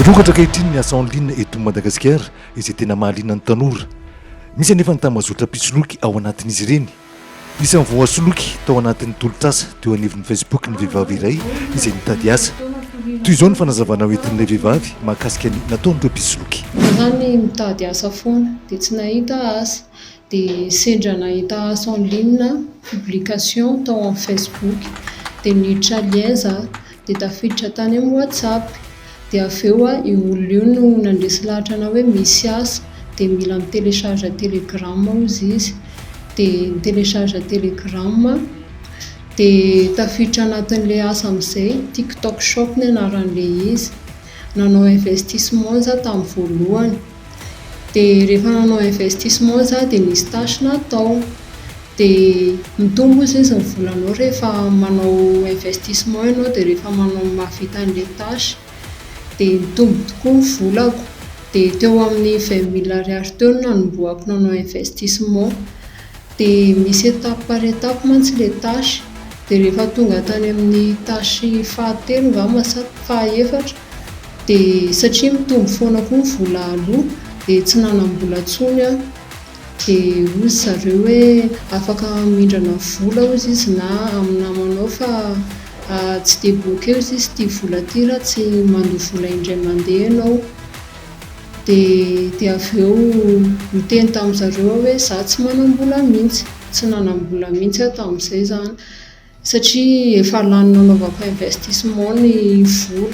Mirongatra ankehitriny ny asa en ligne eto Madagasikara izay tena mahaliana ny tanora. Misy anefa ny tambazotra mpisoloky ao anatin'izy ireny. Isan'ny voasoloky tao anatin'ny tolotr'asa teo anivon'ny Facebook ny vehivavy iray izay nitady asa. Toy izao ny fanazavana hoentin'ilay vehivavy mahakasika ny nataon'ireo mpisoloky. Raha ny mitady asa foana dia tsy nahita asa dia sendra nahita asa en ligne, publication, tao amin'ny facebook, dia niditra lien za, dia tafiditra tany amin'ny whatsapp, dia avy eo a io olona io no nandresy lahatra anah hoe misy asa, dia mila mi-telecharge telegram hozy izy, dia ni-telecharge telegram a, dia tafiditra anatin'ilay asa amin'izay, tiktok shop ny anaran'ilay izy, nanao investissement za tamin'ny voalohany, dia rehefa nanao investissement za dia nisy tâche natao, dia mitombo hozy izy ny volanao rehefa manao investissement ianao dia rehefa manao mahavita an'ilay tâche, dia nitombo tokoa ny volako, dia teo amin'ny vingt mille ariary teo no nanombohako nanao investissement, dia misy étape par étape mantsy ilay tâche, dia rehefa tonga tany amin'ny tâche fahatelo angamba sa fahaefatra dia satria mitombo foana koa ny vola aloa dia tsy nanam-bola tsony aho dia hozy zareo hoe afaka mindrana vola hozy izy na amin'ny namanao fa tsy debloquer hozy izy ity vola ity raha tsy mandoa vola indray mandeha ianao dia dia avy eo niteny tamin'ny zareo aho hoe za tsy manam-bola mihintsy, tsy nanam-bola mihintsy aho tamin'izay izany satria efa lany nanaovako investissement ny vola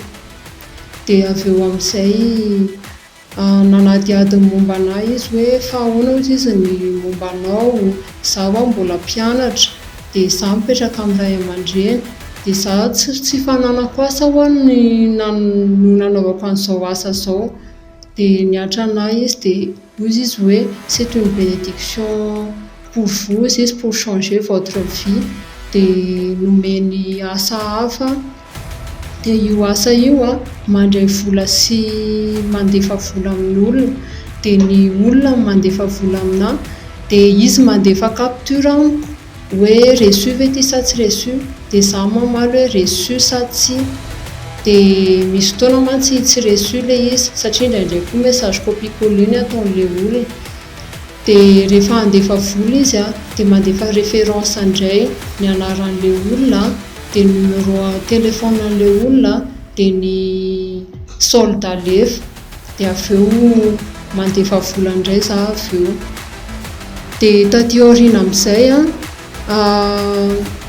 dia avy eo amin'izay nanadihady ny momba anà izy hoe fa ahoana hozy izy ny momba anao, izaho ho'aho mbola mpianatra dia izaho mipetraka amin'ny ray aman-dreny dia izaho tsy tsy fananako asa ho'aho no nanaovako an'izao asa izao. Dia nihatra anà izy dia hoy izy hoe, c'est une bénédiction pour vous izy pour changer votre vie. Dia nomeny asa hafa, dia io asa io an, mandray vola sy mandefa vola amin'ny olona, dia ny olona no mandefa vola aminà, dia izy mandefa capture amiko. Hoe reçu ve ity sa tsy reçu? Dia za mamaly hoe reçu sa tsia? Dia misy fotoana mantsy tsy reçu ilay izy satria indraindray koa message copie coller ny ataon'ilay olona. Dia rehefa handefa vola izy an, dia mandefa référence indray, ny anaran'ilay olona, dia ny numéro telephone an'ilay olona, dia ny solde alefa. dia avy eo mandefa vola indray za avy eo, dia taty aoriana amin'izay an,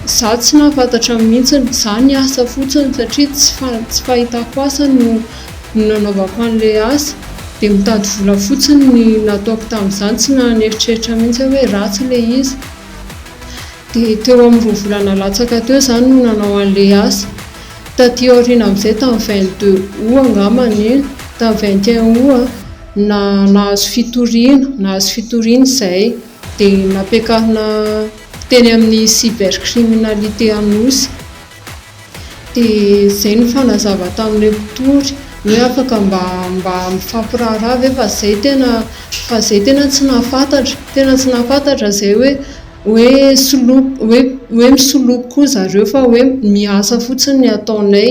za tsy nahafantatra mihintsy, za niasa fotsiny satria tsy tsy fahitako asa no nanaovako an'ilay asa, dia mitady vola fotsiny no nataoko tamin'izany, tsy nanieritreritra mihintsy aho hoe ratsy ilay izy, dia teo amin'ny roa volana latsaka teo za no nanao an'ilay asa. Taty aoriana amin'izay, tamin'ny vingt deux aout angamba an io, tamin'ny vingt et un aout na nahazo fitoriana, nahazo fitoriana izay dia nampiakarina teny amin'ny cybercriminalité Anosy, dia izay nifanazava tamin'ilay mpitory hoe afaka mba mba mifampiraharaha ve fa izay tena, fa izay tena tsy nahafantatra, tena tsy nahafantatra izay hoe. Hoe soloko, hoe misoloko koa zareo fa hoe miasa fotsiny ny ataonay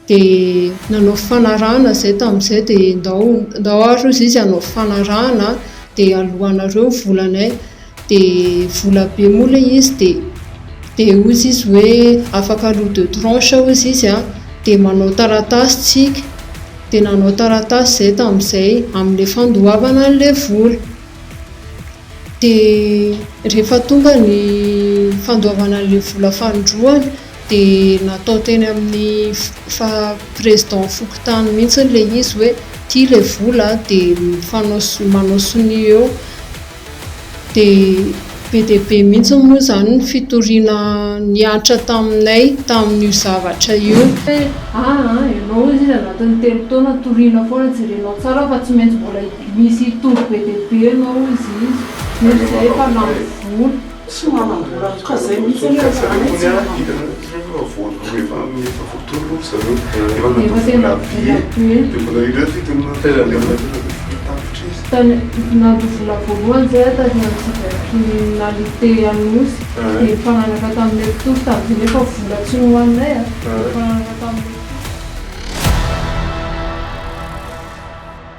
dia nanao fifanarahana izay tamin'izay dia ndao ndao ary hozy izy hanao fifanarahana dia aloanareo ny volanay dia vola be moa ilay izy dia dia hozy izy hoe afaka aloa deux tranches hozy izy an, dia manao taratasy tsika, dia nanao taratasy izay tamin'izay amin'ilay fandoavana an'ilay vola. Dia rehefa tonga ny fandoavana an'ilay vola fanindroany dia natao teny amin'ny president fokontany mihitsy ilay izy hoe ity ilay vola dia mifanao sonia manao sonia eo dia be dia be mihitsy moa izany ny fitoriana nihatra taminay tamin'io zavatra io. Hoe aa ianao hoy izy anatin'ny telo taona toriana foana jerenao tsara fa tsy maintsy mbola Misy toby be dia be ianao hozy izy, hoy izy hoe efa lany vola. Tsy manam-bola mihitsy ka zay mihitsy anie raha zany tsy Nandoa vola voalohany izay aho tary amin'ny cybercriminalité Anosy, dia nifanaraka tamin'ilay mpitory tamin'izay nefa vola tsy nohaninay a, nifanaraka tamin'ilay mpitory.